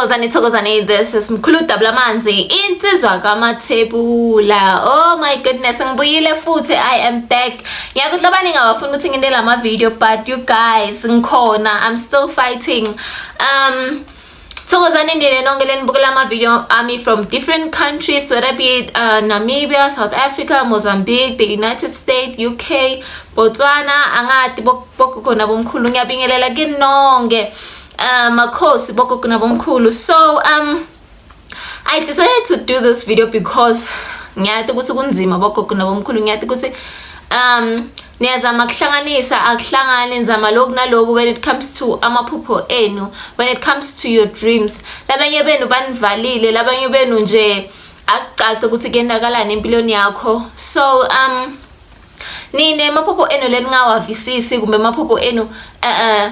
Thokozani thokozani this is Mkhulu Dabula Manzi insizwa kamathebula oh my goodness ngibuyile futhi I am back ngiyakuthi labani ngawafuna ukuthi nginde lama video but you guys ngikhona I'm still fighting um Thokozani nina nonke lenibukela ama-video ami from different countries whether be it uh, namibia south africa mozambique the united states uk botswana angati bogogo nabomkhulu ngiyabingelela kini nonke uh, makhosi bogogo nabomkhulu so um i decided to do this video because ngiyati ukuthi kunzima bogogo nabomkhulu ngiyati ukuthi um niyazama kuhlanganisa akuhlangani nizama loku naloku when it comes to amaphupho enu when it comes to your dreams labanye benu banivalile labanye benu nje akucace ukuthi kuyendakalani empilweni yakho so um nine amaphupho enu leningawavisisi kumbe amaphupho enu uh, uh,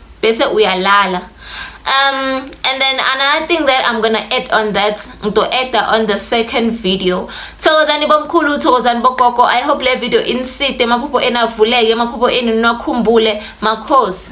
bese uyalala um and then another thing that i'm gonna add on that to add that on the second video thokozani bomkhulu thokozani bogogo i hope le video iniside emaphupho enavuleke emaphupho enu niwakhumbule makhosi